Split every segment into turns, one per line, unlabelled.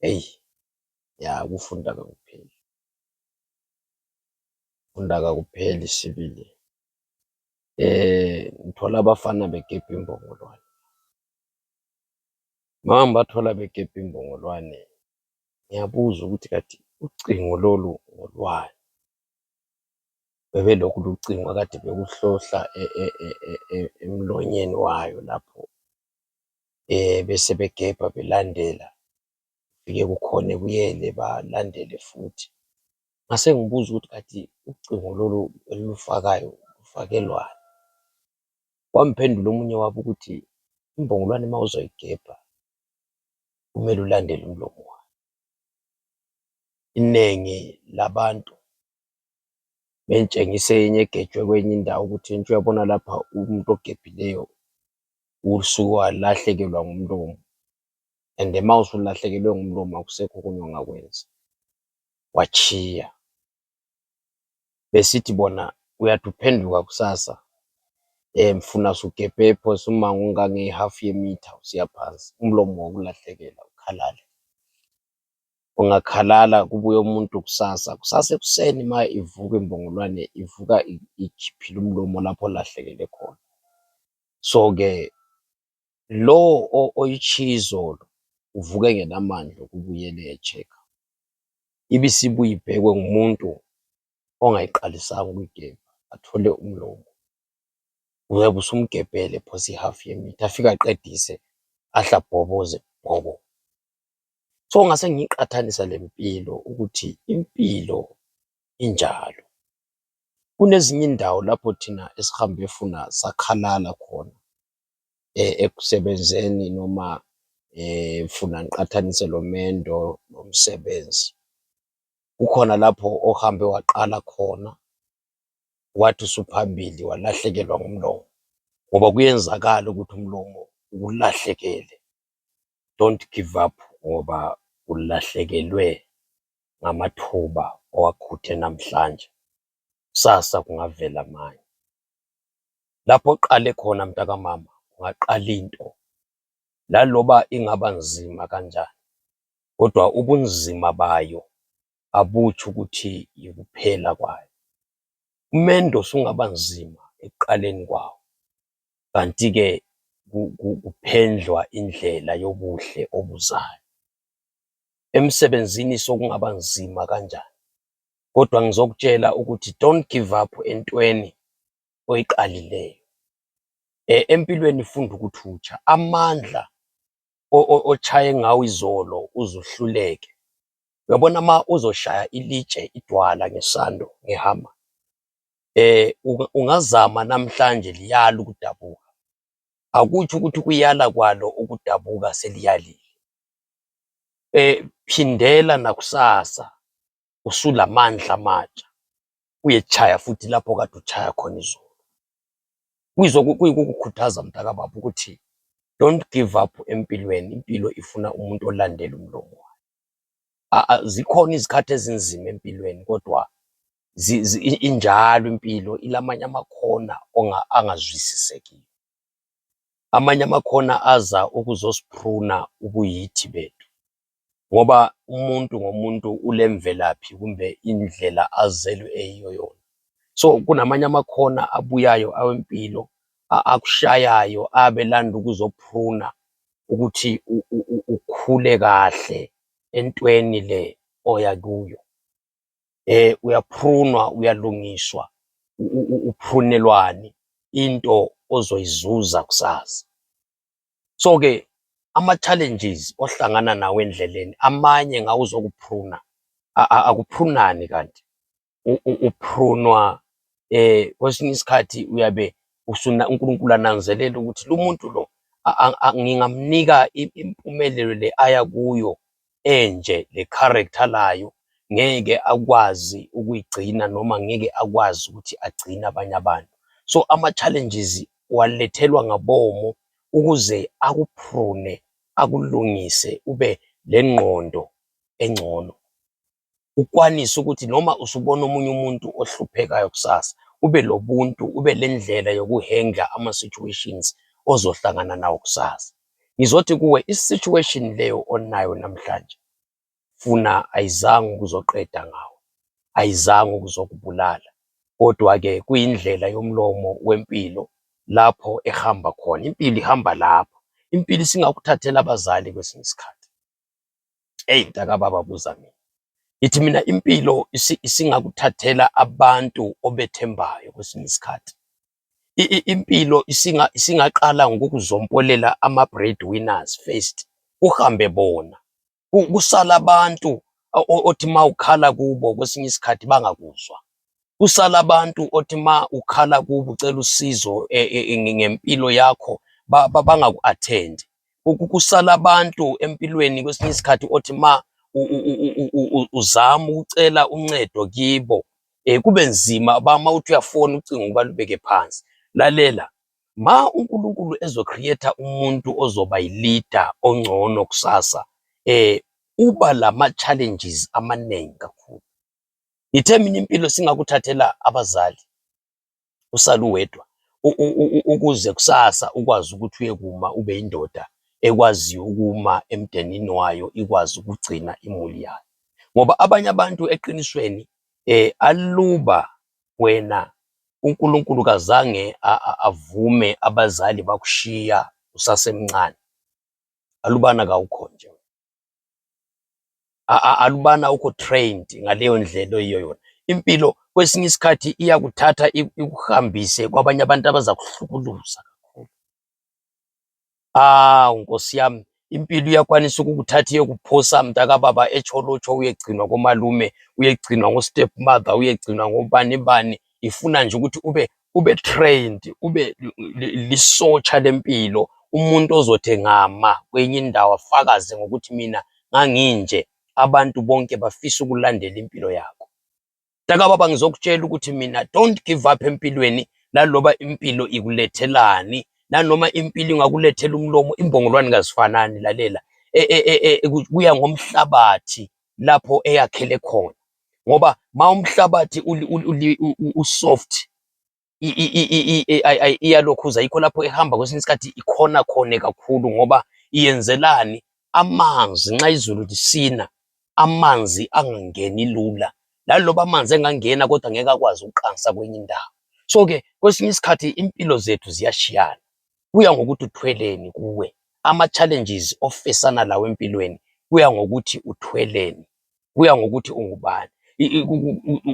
Eyi ya ukufunda kakupheli, ukufunda kakupheli sibili. Ngithola abafana begebha imbongolwane. Uma ngibathola begebha imbongolwane, ngiyabuza ukuthi kanti ucingo lolu ngolwani? Bebelokhu lucingo kade bekuhlohla emlonyeni wayo lapho. besebegebha belandela kufike kukhona ebuyele balandele futhi ngasengibuza ukuthi kanti ucingo lolu elilufakayo lufakelwani wamphendula omunye wabo ukuthi imbongolwane ma uzoyigebha kumele ulandele umlomo wayo inengi labantu bengitshengisa eyinye egejwe kweyinye indawo ukuthi ngitsho uyabona lapha umuntu ogebhileyo usuke walahlekelwa ngumlomo and ma usulahlekelwe ngumlomo akusekho okunye ongakwenza watshiya besithi bona uyathi uphenduka kusasa funa usugebhe phose umango ongange half yemitha usiya phansi umlomo wakulahlekela ukhalala. ungakhalala kubuye umuntu kusasa. Kusasa ekuseni ma ivuka imbongolwane ivuka ikhiphile umlomo lapho olahlekele khona. So ke lo oyitshiye izolo uvuka engelamandla okubuyela eyetshekha. Ibisibuya ibhekwe ngumuntu ongayiqalisanga ukuyigebha athole umlomo. Uyabe usumgebhele phose ihafu yemitha afike aqedise ahle abhoboze bhobo. So ngasengiqathanisa lempilo ukuthi impilo injalo. Kulezinye indawo lapho thina esihambe funa sakhalala khona ekusebenzeni noma funa ngiqathanise lomendo lomsebenzi. Kukhona lapho ohambe waqala khona wathi usuphambili walahlekelwa ngumlomo ngoba kuyenzakala ukuthi umlomo ukulahlekele. don't give up ngoba ulahlekelwe ngamathuba owakhuthe namhlanje, kusasa kungavela manje. Lapho oqale khona mntakamama, ungaqala into laloba ingaba nzima kanjani, kodwa ubunzima bayo abutsho ukuthi yikuphela kwayo. Umendo usungaba nzima ekuqaleni kwawo, kanti ke kuphendlwa indlela yobuhle obuzayo. Emsebenzini sokungaba nzima kanjani, kodwa ngizokutshela ukuthi don't give up entweni oyiqalileyo. E, empilweni funda ukuthi utsha amandla otshaye ngawo izolo uzuhluleke. Uyabona ma uzoshaya ilitshe idwala ngesando ngehama ungazama namhlanje liyala ukudabuka akutsho ukuthi ukuyala kwalo ukudabuka seliyalile phindela nakusasa usulamandla amatsha uyetshaya futhi lapho okade utshaya khona izolo kuyizwa kuyikukukhuthaza mntaka baba ukuthi don't give up empilweni impilo ifuna umuntu olandela umlomo wayo zikhona izikhathi ezinzima empilweni kodwa injalo impilo ilamanye amakhona angazwisisekiyo amanye amakhona aza ukuzosiphuna ubuyithi bethu ngoba umuntu ngomuntu ulemvelaphi kumbe indlela azelwe eyiyo yona so kunamanye amakhona abuyayo awempilo akushayayo abelanda ukuzophuna ukuthi ukhule kahle entweni le oya kuyo eh uyaprunwa uyalungiswa uprunelwani into ozoyizuza kusasa so ke ama challenges ohlangana nawo endleleni amanye ngawo uzokupruna akuprunani kanti uprunwa eh kwesinye isikhathi uyabe usuna uNkulunkulu ananzelela ukuthi lo muntu lo ngingamnika impumelelo le aya kuyo enje le character layo ngeke akwazi ukuyigcina noma ngeke akwazi ukuthi agcine abanye abantu so ama challenges walethelwa ngabomo ukuze akuprune akulungise ube lengqondo engcono ukwanise ukuthi noma usubona omunye umuntu ohluphekayo kusasa ube lobuntu ube lendlela yokuhendla ama situations ozohlangana nawo kusasa ngizothi kuwe isituation leyo onayo namhlanje funa ayizange ukuzoqeda ngawo ayizange ukuzokubulala kodwa-ke kuyindlela yomlomo wempilo lapho ehamba khona impilo ihamba lapho impilo isingakuthathela abazali kwesinye isikhathi Eyi mntaka baba buza mina ngithi mina impilo isingakuthathela abantu obethembayo kwesinye isikhathi impilo isingaqala ngokuzompolela ama-bread winners first kuhambe bona kusala abantu othi ma ukhala kubo kwesinye isikhathi bangakuzwa kusala abantu othi ma ukhala kubo ucela usizo e, e, e, ngempilo yakho bangaku-athendi. Kusala abantu empilweni kwesinye isikhathi othi ma uzama ukucela uncedo kibo um kube nzima bama uthi uyafona ucingo ubalubeke phansi. Lalela, ma uNkulunkulu ezokhrietha umuntu ozoba yilida ongcono kusasa, um uba lama-challenges amaningi kakhulu. Ngithe mina impilo singakuthathela abazali usale uwedwa ukuze kusasa ukwazi ukuthi uyekuma ube indoda ekwaziyo ukuma emdenini wayo ikwazi ukugcina imuli yayo ngoba abanye abantu eqinisweni eh aluba wena uNkulunkulu kazange avume abazali bakushiya usasemncane alubana kawukho nje alubana uko trained ngaleyo ndlela oyiyo yona impilo kwesinye isikhathi iyakuthatha ikuhambise kwabanye abantu abazakuhlukuluza kakhulu awu nkosi yami impilo iyakwanisa ukukuthatha iyekuphosa mntakababa echolotsho uyegcinwa komalume uyegcinwa ngostep mother uyegcinwa ngobani bani ifuna nje ukuthi ube ube trained ube lisotsha lempilo umuntu ozothi ngama kwenye indawo afakaze ngokuthi mina nganginje abantu bonke bafisa ukulandela impilo yakho taka baba ngizokutshela ukuthi mina don't give up empilweni laloba impilo ikulethelani nanoma impilo ingakulethela umlomo imbongolwane kazifanani lalela e, e, e, kuya ngomhlabathi lapho eyakhele khona ngoba ma umhlabathi usoft iyalokhuza yikho lapho ehamba kwesinye isikhathi ikhona khone kakhulu ngoba iyenzelani amanzi nxa izulu lisina amanzi angangeni lula laloba amanzi engangena kodwa ngeke akwazi ukuqansa kwenye indawo so ke kwesinye isikhathi impilo zethu ziyashiyana kuya ngokuthi uthweleni kuwe ama challenges ofesana lawo empilweni kuya ngokuthi uthweleni kuya ngokuthi ungubani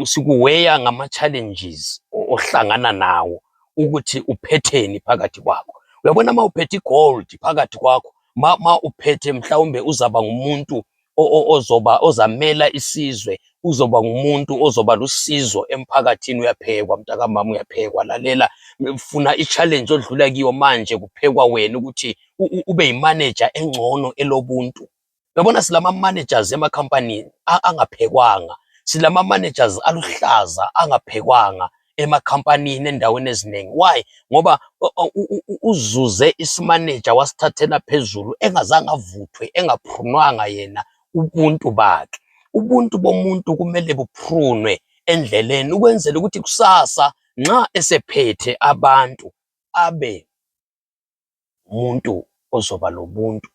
sikuweya ngama-challenges ohlangana nawo ukuthi uphetheni phakathi kwakho uyabona ma uphethe igold phakathi kwakho ma, ma uphethe mhlawumbe uzaba ngumuntu ozoba ozamela isizwe uzoba ngumuntu ozoba lusizo emphakathini uyaphekwa mntakamama uyaphekwa lalela funa i-challenge odlula kiyo manje kuphekwa wena ukuthi ube yimaneja engcono elobuntu Yabona silama managers emakhampanini angaphekwanga, silama managers aluhlaza angaphekwanga emakhampanini endaweni ezinengi. Why? Ngoba uzuze isimaneja wasithathela phezulu engazange avuthwe engaphunwanga yena ubuntu bakhe. Ubuntu bomuntu kumele buphunwe endleleni ukwenzela ukuthi kusasa nxa esephethe abantu abe umuntu ozoba lobuntu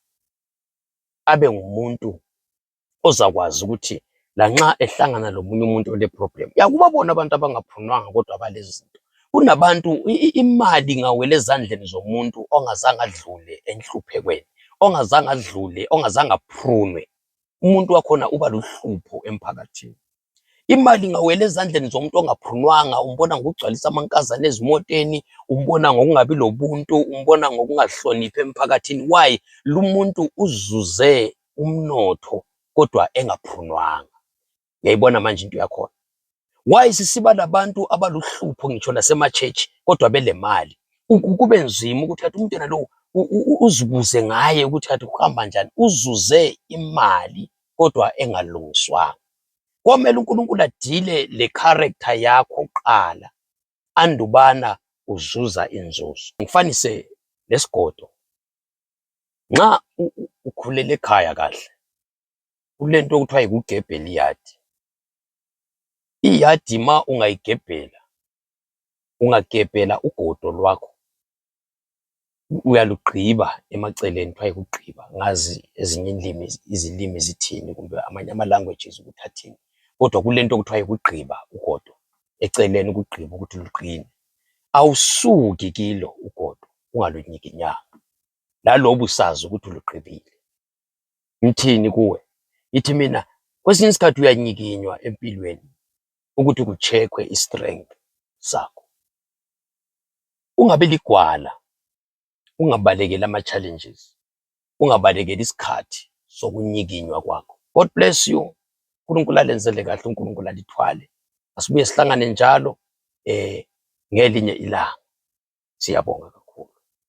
abe ngumuntu ozakwazi ukuthi lanxa ehlangana lomunye umuntu ole problem yakuba bona abantu abangaphunwanga kodwa balezi zinto kunabantu imali ngawele ezandleni zomuntu ongazange adlule enhluphekweni ongazange adlule ongazange aphunwe umuntu wakhona uba luhlupho emphakathini Imali ingawela ezandleni zomuntu ongaphunwanga, umbona ngokugcwalisa amankazana ezimoteni, umbona ngokungabi lobuntu, umbona ngokungahloniphi emphakathini. Why? Lumuntu uzuze umnotho kodwa engaphunwanga. Uyayibona manje into yakhona. Why sisiba labantu abaluhlupho ngitsho lasemachechi kodwa belemali. Kube nzima ukuthi kathi umntwana lowo uzibuze ngaye ukuthi kathi kuhamba njani, uzuze imali kodwa engalungiswanga komele uNkulunkulu adile le character yakho qala andubana uzuza inzuzo ngifanise lesigodo nxa ukhulele ekhaya kahle kulento okuthiwa yikugebhela iyadi iyadi ma ungayigebhela ungagebhela ugodo lwakho uyalugqiba emaceleni kuthwa yikugqiba angazi ezinye izilimi zithini kumbe amanye ama languages ukuthi athini kodwa kulento okuthwa yikugqiba ugodo eceleni ukugqiba ukuthi luqine awusuki kilo ugodo ungalunyikinyanga laloba usazi ukuthi ulugqibile ngithini kuwe ithi mina kwesinye isikhathi uyanyikinywa empilweni ukuthi kucheckwe istrength sakho Ungabi ligwala, ungabalekeli ama-challenges, ungabalekeli isikhathi sokunyikinywa kwakho. God bless you. uNkulunkulu alenzele kahle, uNkulunkulu alithwale. Asibuye sihlangane njalo eh ngelinye ilanga. Siyabonga.